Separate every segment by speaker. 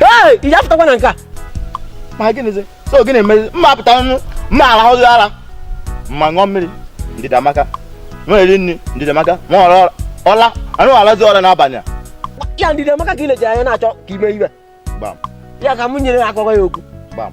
Speaker 1: ee ị apụtakwa na nke a
Speaker 2: ma gịnịzi so gịnị emezi mma apụta nụ mma arahụzi ara mma ṅụọ mmiri ndidi amaka nwa eri nri ndidi amaka nwa ọra ụla anọ m alazi ụla n'abalị a ya ndidi amaka
Speaker 1: ka i leji anya na-achọ ka ime iwe gbam
Speaker 2: ya ka m nyere
Speaker 1: akọwa ya okwu gbam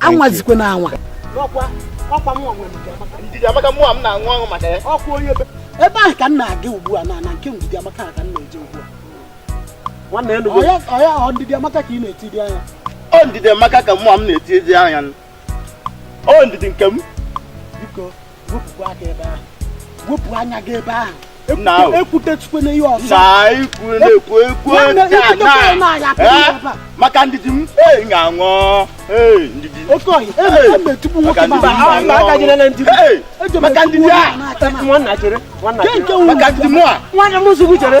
Speaker 1: anwazikwana
Speaker 2: anwa ebe ahụ
Speaker 1: ka m na-aga ugbu a na nke ndidi amaka ka m na-eje ugbu a nwanne elu ọya ọ ndidi amaka ka ị na-etiri anya ọ ndidi amaka
Speaker 2: ka mụwa na-etiri anya ọ ndidi nke m biko
Speaker 1: wepụ aka ebe ahụ wepụ anya gị ebe ahụ
Speaker 2: ekwutetukwana
Speaker 1: ihe ọzọ
Speaker 2: maka ndidi m ga-aṅụ oke ọhịa emetụgbu nwoke maka ndidi a nke nwanne m nsogbu chere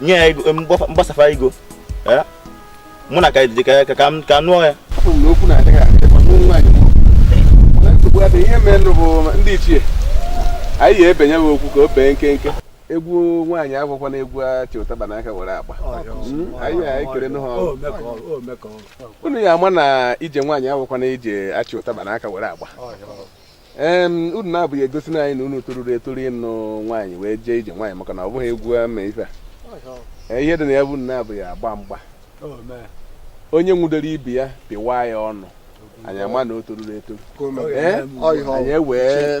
Speaker 2: nye ya ego mgbasafa ego mụ na ka dị ka ya ka m ka nụọ
Speaker 3: ya ihe mere nụ bụ ndị ichie anyị ya ebenye m okwu ka o bee nkenke egwu nwaanyị abụkwana egwu achị ụtaba n'aka were agba hmm? anyị ya ekere nụ ha unu ya ama na ije nwaanyị abụkwana ije achị ụtaba n'aka were agba unu naabọ ya egosi na anyị na unu toruru etoru ịnụ nwaanyị wee jee ije nwaanyị maka na ọ bụghị egwu ama ife a ihe dị na ya bụ unu naabọ ya agba mgba onye nwudoro ibe ya pịwa ya ọnụ anyị ama na o toruru etoru anyị ewee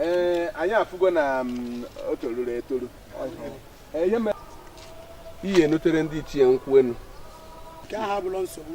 Speaker 1: ee anyị afụgo na mm, o toruru etoru ihe mere ihe e nutere ndị ichie nkwụ enu nke ahụ abụrụ nsogbu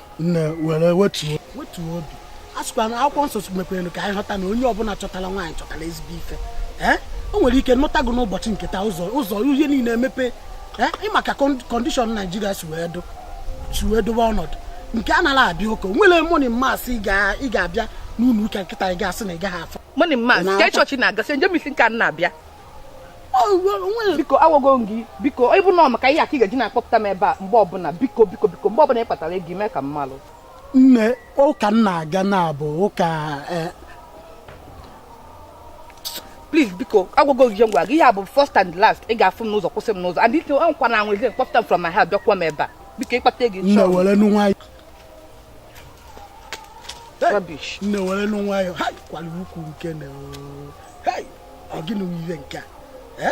Speaker 4: nne
Speaker 1: were wetuo wetuo obi a sịkwa na akwụkwọ nsọ mekwara ka anyị ghọta na onye ọbụla chọtara nwaanyị chọtara ezigbo ife ee o nwere ike nụta gị n'ụbọchị nke taa ụzọ ụzọ ihe niile emepe ee ị ma ka condition nigeria si wee do si wee dobe ọnọdụ nke a nara abịa ụka nwere morning mass ị ga-abịa n'ụlọ ụka kịta ị ga-asị na ị gaghị afụ morning mass ka chọọchị
Speaker 4: na-agasị n'ime izu nke a na-abịa biko agwago m gị biko ịbụ na maka ihe a ka ị ga-eji na-akpọpụta m ebe a mgbe ọbụla biko biko biko mgbe ọbụla ị kpatara ego mee ka m malụ
Speaker 1: na ụka m na-aga na-abụ ụka eh,
Speaker 4: please biko agwago gị ngwa gị ya bụ first and last ị ga-afụ m n'ụzọ kwụsị m n'ụzọ and ite nkwa na anwazi ịkpọpụta m from my house bịakwuo m ebe a biko ị
Speaker 1: kpata ego
Speaker 4: nne were nụ nwayọ nne were nụ
Speaker 1: nwayọ ha kwara ukwu nke na ọ gịnị bụ ihe nke a